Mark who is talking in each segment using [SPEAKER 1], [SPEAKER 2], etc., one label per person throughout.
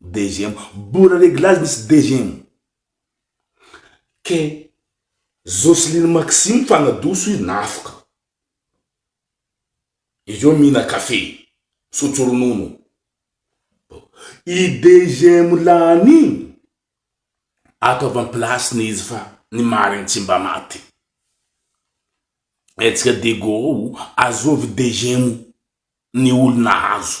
[SPEAKER 1] Deuxième, mbola reglage misy deuxième. Kay Jocelyne Maxime fa nadoso izy nafoka. Izy eo mihina café, misotro ronono. I deuxième lany iny ato avy am place-ny izy fa ny marigny tsy mba maty. Hetsika Diego ao, azovy deuxième ny olo nahazo.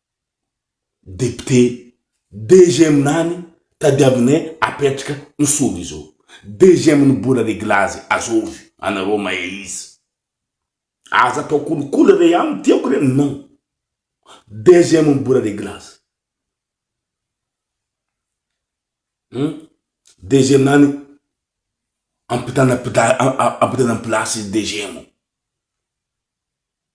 [SPEAKER 1] Député deuxième nany tadiavinay apetraka ny soly izao deuxième ny bola reglazy azovy anareo mahay izy aza atao kolikoly re an tiako re non deuxième ny bola reglazy hum deuxième nany ampitana ampitana place deuxième.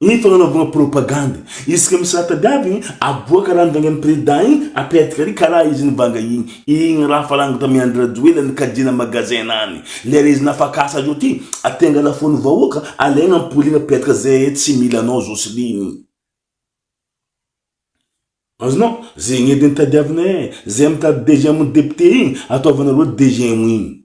[SPEAKER 1] Ny fagnanaovagna propagandy. Isaka misy raha tadiavigny aboaka raha nivangian'ny président igny apetaka ary karaha izy nivanga igny. Igny raha fa lany tamy Andry Rajoelina nikajiana magasin nany. Lera izy nafakasa azy oty aty angala fony vahoaka alaigna ampoliagna apetaka zee tsy mila anao Joseline. Azonao? Zegny edy ny tadiavinay e. Zay mitady deuxième député igny ataovanareo deuxième igny.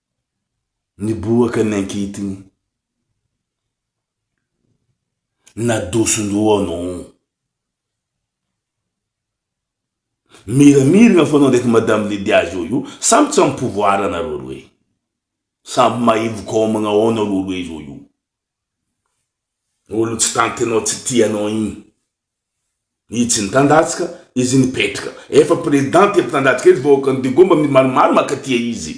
[SPEAKER 1] Niboaka ny ankitiny. Nadoson-doha anao. Miramirina foana ndraiky madame Lydia zao io, samy tsy am pouvoir nareo roe. Samy maivoka ao amagna ao nareo roe zao io. Olo tsy tantinao tsy tianao igny. Izy tsy nitandatsika, izy nipetraka. Efa président tia mpitandatsika izy vahoakan'i Digo mba maromaro mankatia izy.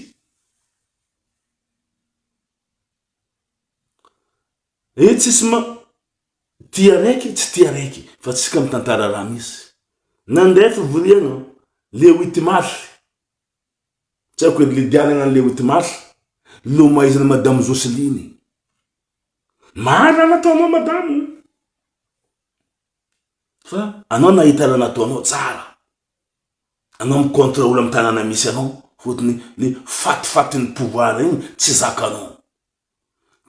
[SPEAKER 1] Eh tsisy ma tia raiky tsy tia raiky fa tsika mitantara raha misy. Nandeha fivoriana le huit mars. Tsy haiko edy le dianana le huit mars. Nomaizina madame Jocelyne. Marina nataonao madame o! Fa anao nahitana nataonao tsara. Anao mi controle am tanana misy anao fotony ny fatifatin'ny pouvoir igny tsy zakanao.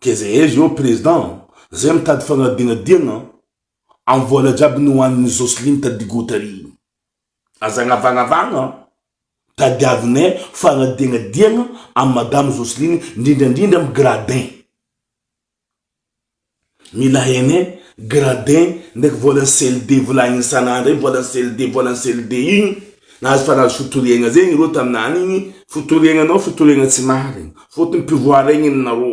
[SPEAKER 1] Ke ze aiza eo president zay mitady fagnadingadina am vola jiaby nohanin'i Jocelyne tadigotery igny. Aza anavagnavagna an! Tadiavinay fanadiagnadiagna amin'i Madame Jocelyne ndrindra ndrindra amin'ny gradin. Mila hainay gradin ndraiky volan'ny CLD volagniny isan'andro igny volan'ny CLD volan'ny CLD igny nahazo fa nahazo fitoriagna zegny ireo taminany igny, fitoriagna anao fitoriagna tsy marigny, fôtony pouvoir igny ny narô.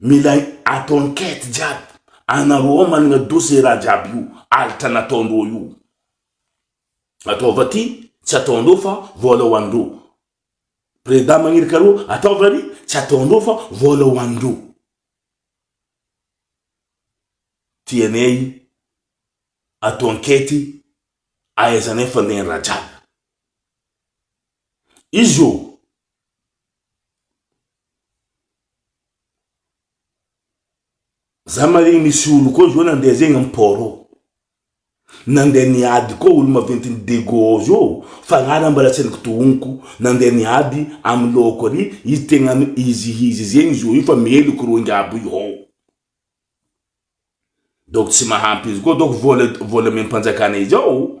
[SPEAKER 1] Mila atao enquête jiaby, anareo ao managna dosie ze raha jiaby io alitra nataondreo io, ataova ty tsy ataondreo fa vola ho andreo, preda magnirika areo ataova ry tsy ataondreo fa vola ho andreo, tianay atao enquête ahaizanay fandehan-draha jiaby, izy io. Za marigny misy olo koa zao nandeha zegny am port ao, nandeha niady koa olo maventy ny dego ao zao fa raha raha mbola tsy ny kitohoniko nandeha niady amy lôko ary izy tegna am izy izy zegny zo io fa meloky roinga aby io hao. Donc tsy mahampy izy koa donc vola vola amem-panjakana izao.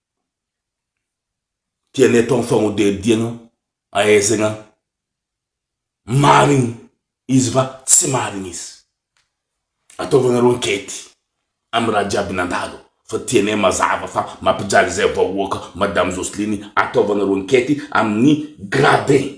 [SPEAKER 1] dia ny ataon'ny fanodiadiana ahaizana marina izy va tsy marina izy. Ataovanareo ankety amin'ny raha jiaby nandalo fa tianay mazava fa mampijaly izay vahoaka madame Jocelyne ataovanareo ankety amin'ny gradin.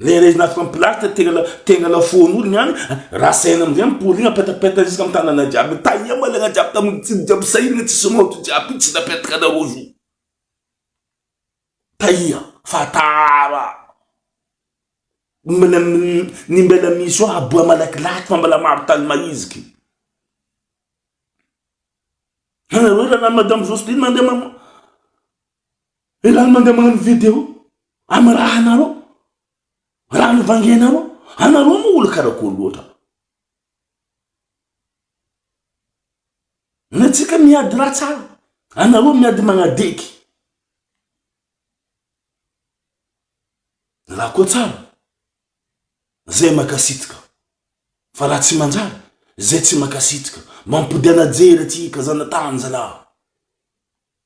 [SPEAKER 1] Rehareha anaty fampilasitra tegna tegna lafaoro ny any raha saina amizay miporiana petapetana isaka ny tanana jiaby tahiana malagna jiaby tamin'ny tsiny jiaby sahirana tsisy maoty jiaby io tsy napetaka anareo io tahia fa tara ny mbala ny mbala misy eo haboa malakilaky fa mbala maro tany mahiziky anareo raha lany madame Jocelyne mandeha Et là mandeha magnano video am raha nareo raha nivangianareo anareo moa olo karakory loatra ny antsika miady raha tsara anareo miady magnadeky raha koa tsara zay makasitrika fa raha tsy manjary zay tsy makasitrika mampodiana jery atsika zanatany zalahy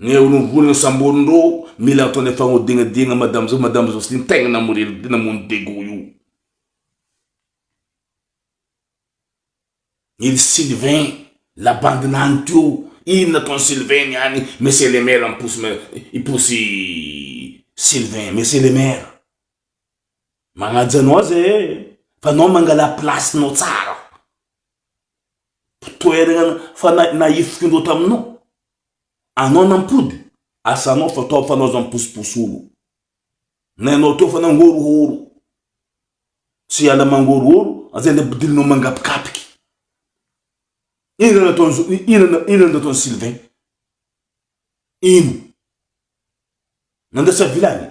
[SPEAKER 1] Ny horohoro ny samboriny ro mila ataonay fagnodignadiagna madame zao madame zao sy ny tegna namory el namono dego io. Il Sylvain la bande nany teo ino nataony Sylvain niany monsieur le maire miposy ma hiposy Sylvain monsieur le maire magnaja anao aza ee fa anao mangala place nao tsara fa toeragna fa na nahifiky indreo taminao. Anao nampody asanao fa tao fanao zany posiposolo na ianao teo fa nangorohoro tsy hiala mangorohoro zay le ampidirinao mangapikapiky ina nataon'zo ina ina nataon'i Sylvain ino nandrasa vilany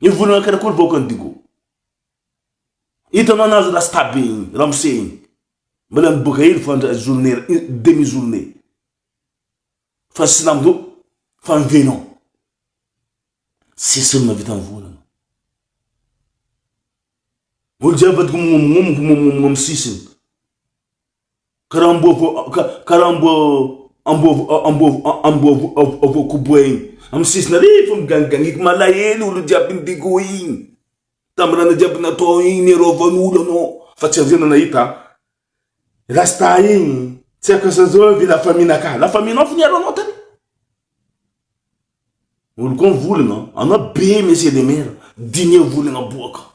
[SPEAKER 1] Io vola nankana koa ny vahoakan'i Digo. Hitanao nahazo rasta be igny, ramose igny. Mbola miboaka hely fa ndra journée ra- une demi journée. Fa ny silamo zao fa mivenao. Tsisy olona vita mivola. Olo jiaby vadiko mignomignomy mignomignomy sisiny. Karaha amboa koboha iny amin'ny sisina rehefa miganiganiako malahelo olo jiaby nidiko iny tamin'ny raha jiaby natao iny niarovan'olo anao fa tsy an'izay no nahita ahy rasta iny tsy haiko asa zao ve la famille ankahy la famille anao fo niaro anao tany olo koa mivolagna anao be monsieur le maire diniho volagna aboaka.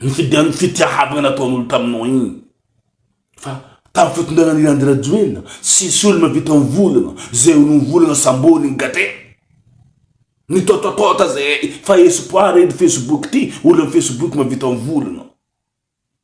[SPEAKER 1] Ny fidian'ny fitiahavana nataon'olo taminao iny fa tamin'ny fitondrana an'i Andry Rajoelina tsisy olo mavita mivolana zay olo mivolana sambony ny gate ny tototoota zay fa espoir edy facebook ty olo am facebook mavita mivolana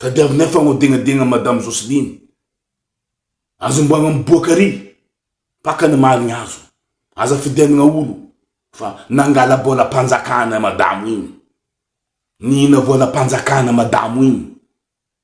[SPEAKER 1] Tadiavinay fa agnodegnadegna madame Jocelyne. Azomboagna am boaka ary. Paka ny maha ny azo. Aza fidianagna olo fa nangala bola panjakana madamo igny. Nihina vola panjakana madamo igny.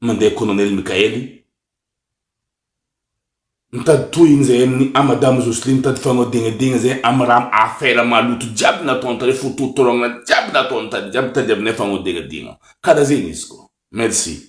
[SPEAKER 1] Mandeha Colonel Mickael i. Mitady tohiny zay aminy a madame Jocelyne mitady fanoadignadiagna zay amy raha affaire maloto jiaby nataony tary fo totorogna jiaby nataony tary jiaby mitady aminay fanoadignadiagna kara zegny izy ko merci.